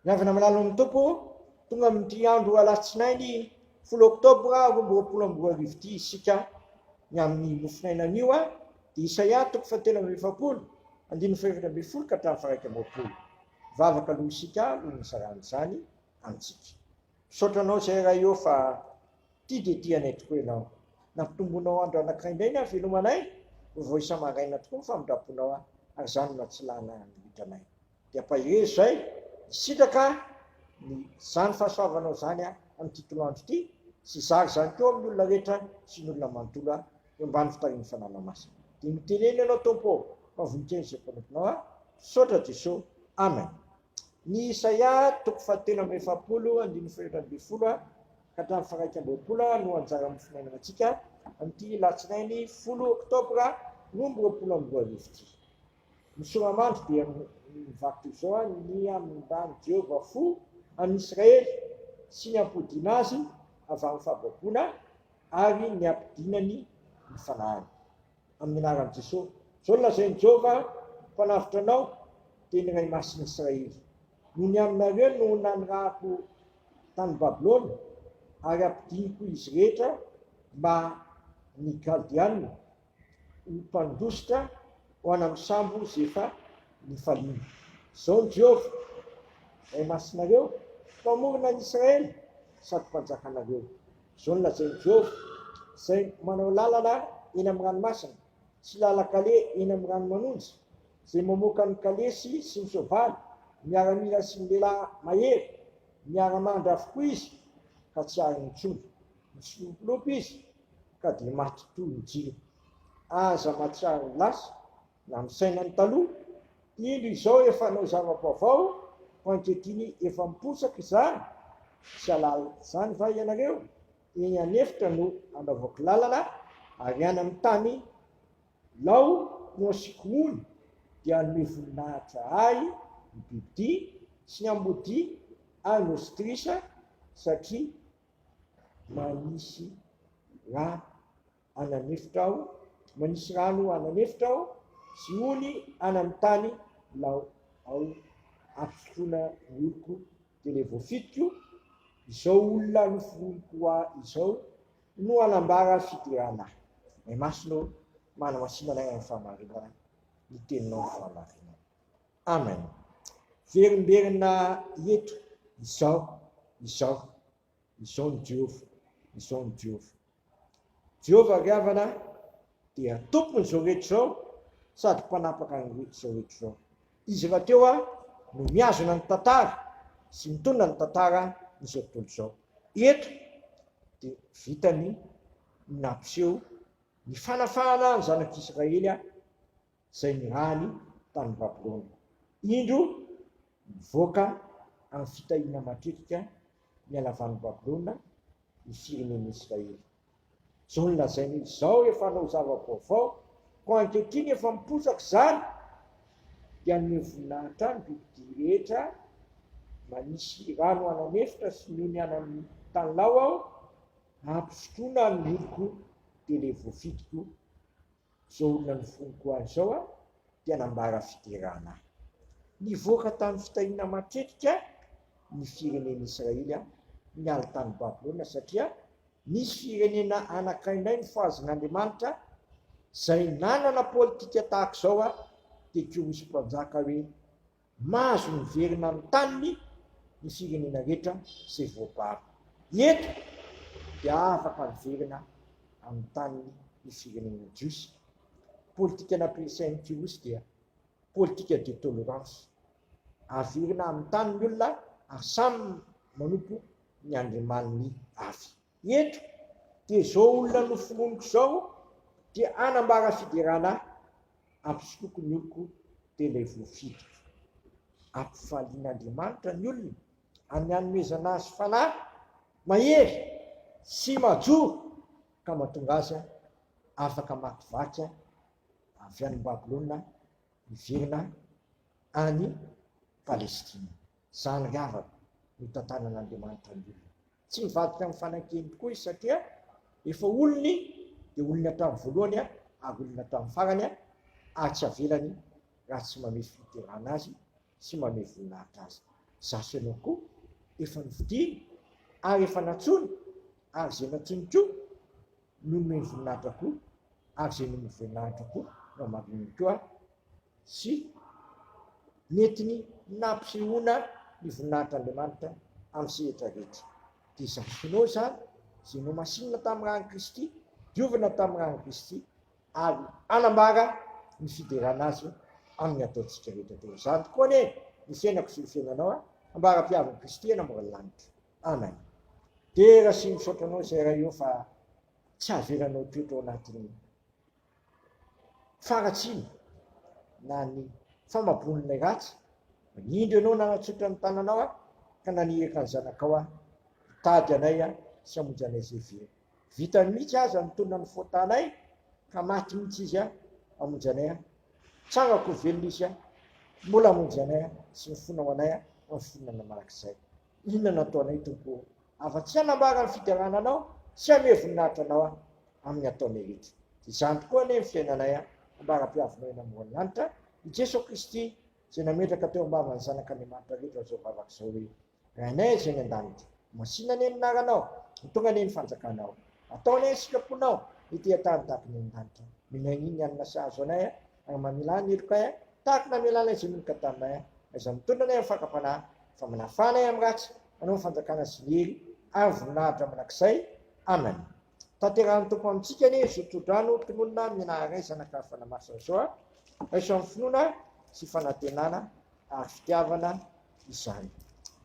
Miavana amin'ny lalan'ny Tompo, tonga amin'ity andro alatsinainy folo oktobra roa amby roapolo amby roa arivo ity isika ny amin'ny mofonaina anio a dia Isaia toko fahatelo amby efapolo andininy fahefatra ambin'ny folo ka hatramin'ny faraika amby roapolo. Vavaka aloha isika alohan'ny isaran'izany amintsika. Misaotra anao zay ray ô fa ity dia ity anay tokoa ianao. Nampitomboinao andro anankiray indray ny havelomanay, ho vao isa-maraina tokoa ny famindraponao ahy ary izany no natsilana ny hotranay. Dia ampahery izay, nisitraka ny izany fahasoavanao izany aho amin'ity tolo andro ity sy hizara izany koa amin'ny olona rehetra sy ny olona manontolo ahy eo ambany fitarihan'ny Fanalana Masina. Dia noteneniny ianao Tompo ô, fa voninkery izay mpanomponao aho. Misaotra Jesoa. Amen. Ny Isaia toko fahatelo amby efapolo andininy fahefatra ambin'ny folo ka hatramin'ny faharaika amby roapolo no anjara amin'ny finainanantsika amin'ity Alatsinainy folo Oktobra roa amby roapolo amby roa arivo ity. Ny soramandry dia mivaky toy izao, Nihamindrany Jehovah fo an'i Israely sy ny ampodiana azy avy amin'ny fahababoana ary niampidinany ny fanahiny. Amin'ny anaran'i Jesosy. Izao no lazain'i Jehovah, Ny Mpanavotra anao, dia ny Ray Masin'i Israely, no ny aminareo no nanirahako tany Babylona, ary hampidiniko izy rehetra mba ny Kaldeanina, ho mpandositra ho any amin'ny sambo izay efa nifaliana. Izao no Jehovah, Ray Masinareo, Mpamorona an'i Israely, sady Mpanjakanareo. Izao no lazain'i Jehovah, izay manao lalana eny amin'ny ranomasina sy lalan-kaleha eny amin'ny rano manonja, izay mamoaka ny kalesy sy ny soavaly, miaramila sy ny lehilahy mahery, miara-mandra avokoa izy, ka tsy ariny intsony, mitsilopilopy izy, ka dia maty toy ny jiro. Aza mahatsiaro ho lasa, Na ny sainan'ny taloha, indro izao efa hanao zava-baovao, fa ankehitriny efa miposaka izany, tsy hahalala izany va ianareo? Eny an'efitra no hanaovako lalana, ary any amin'ny tany lao no hasiako rony, dia hanome voninahitra ahy ny bibidia sy ny ambodia ary ny ositrisa, satria manisy rano. any amin'ny efitra aho, manisy rano any amin'ny efitra aho, sy ony any amin'ny tany lao ao ary fisotroana ny oloko dia ilay voafidiko, izao olona noforoniniko ahy izao no hanambara fiderana ahy. Ray Masina ô, manamasina anay amin'ny fahamarinana ny teninao ny fahamarinana. Amen. Verimberina eto izao, izao, Izao ny Jehovah, izao ny Jehovah, Jehovah ry havana dia Tompon'izao rehetra izao sady Mpanapaka an'izao rehetra izao. Izy rahateo aho no mihazona ny tantara sy mitondra ny tantara an'izao tontolo izao. Eto dia vitany ny nampiseho ny fanafahana ny zanak'Israely izay nirahany tany Babylona. Indro, mivoaka amin'ny fitahiana matetika ny halavan'i Babylona ny firenen'i Israely. Izao no lazainy hoe, Izao efa hanao zava-baovao, koa ankehitriny efa miposaka izany, dia hanome voninahitra ahy ny bibidia rehetra manisy rano hanany efitra sy ny ony hanany tanilao aho, hampisotroana ny oloko dia ilay voafidiko, Izao olona ny foniko ahy izao a dia nambara fiderana ahy. Nivoaka tamin'ny fitahiana matetika ny firenen'i Israely niala tany Babylona satria nisy firenena anakaindray nofahazin'Andriamanitra izay nanana politika tahaka izao dia koa misy mpanjaka hoe Mahazo miverina amin'ny taniny ny firenena rehetra izay voabara. Eto dia afaka miverina amin'ny taniny ny firenena jiosy. Politika nampiresahin'i Kyrosy dia politika de tolérance. Averina amin'ny tany ny olona ary samy manompo ny andriamaniny avy. Eto dia zao olona nofononiko zao dia hanambara fiderana ahy ampisotroko ny oloko dia ilay voafidiko. Ampifalian'Andriamanitra ny olona amin'ny hanomezana azy fanahy mahery sy majoro ka mahatonga azy afaka hamakivaky avy any Babylona miverina any Palestina. Zany ry havana no itantanan'Andriamanitra ny olona. Tsy mivadika amin'ny fanankeny tokoa izy satria efa olony dia olony hatramin'ny voalohany ary olony hatramin'ny farany ary tsy avelany raha tsy mamehy fiterahana azy sy mamehy voninahitra azy. Izaho sy ianao koa efa nofidiny ary efa nantsoiny ary izay nantsoiny koa no nomeny voninahitra koa ary izay nomeny voninahitra koa no hamarihany koa sy nentiny nampisehoana ny voninahitr'Andriamanitra amin'ny sehatra rehetra. Dia izany finoana izany izay nohamasinina tamin'ny ran'i Kristy, diovina tamin'ny ran'i Kristy ary hanambara ny fiderana azy amin'ny ataontsika rehetra teo. Izany tokoa anie ny fiainako sy ny fiainanao, ambara-piavin'i Kristy eny ambony lanitra. anany. Dera sy misaotra anao izay ray ô fa tsy havelanao toetra ao anatin'ny faharatsiana na ny famaboan'ilay ratsy. Manindry anao nanatsotra ny tananao aho ka naniraka ny zanakao aho hitady anay aho sy hamonjy anay izay very. Vitany mihitsy aza nitolona ny faotanay ka maty mihitsy izy aho hamonjy anay aho. Tsangako ho velona izy aho. Mbola hamonjy anay aho sy ny fonao anay aho amin'ny fonao namanak'izay. Inona no ataonay Tompo ô? Afa-tsy hanambara ny fiderana Anao sy hanome voninahitra Anao aho amin'ny ataonay rehetra. Dia izany tokoa anie ny fiainanay an! Ambara-piavinao eny amoron'ny lanitra i Jesoa Kristy izay nametraka teo am-bavan'ny zanak'Andriamanitra rehetra izao vavaka izao hoe, Rainay izay any an-danitra, masìna anie ny anaranao, ho tonga anie ny fanjakanao. Ataonay ny sitraponao, ny teha-tany tahaka ny any an-danitra. Mino an'iny ny hanina sahazo anay an! Agn mamilà ny heloka eh. Tahak namela anay Zony ny Gadam eh. Aiza mitondra anay am fakam-panahy. Fa manafà anay am ratsy. Manao ny fanjakana sy ny hery. Ary voninahitra mandrakizay. Amen. Tanterahin'ny Tompo amintsika anie zo tsodrano tononina mianaharay zanaka fanamasina zao a. Raiso am finoana sy fanantenana ary fitiavana izany.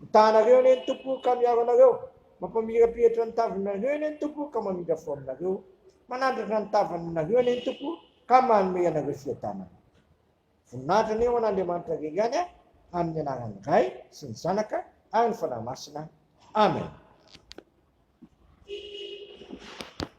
Mitaha anareo anie ny Tompo ka miaro anareo. Mampamirapiratra ny tavany nareo anie ny Tompo ka mamindra fo aminareo. Manandratra ny tavany nareo anie ny Tompo Ka manome anareo fiadanana. Voninahitra anie ho an' Andriamanitra irery ihany amin' ny anaran' ny Ray sy ny Zanaka ary ny Fanahy Masina. Amen.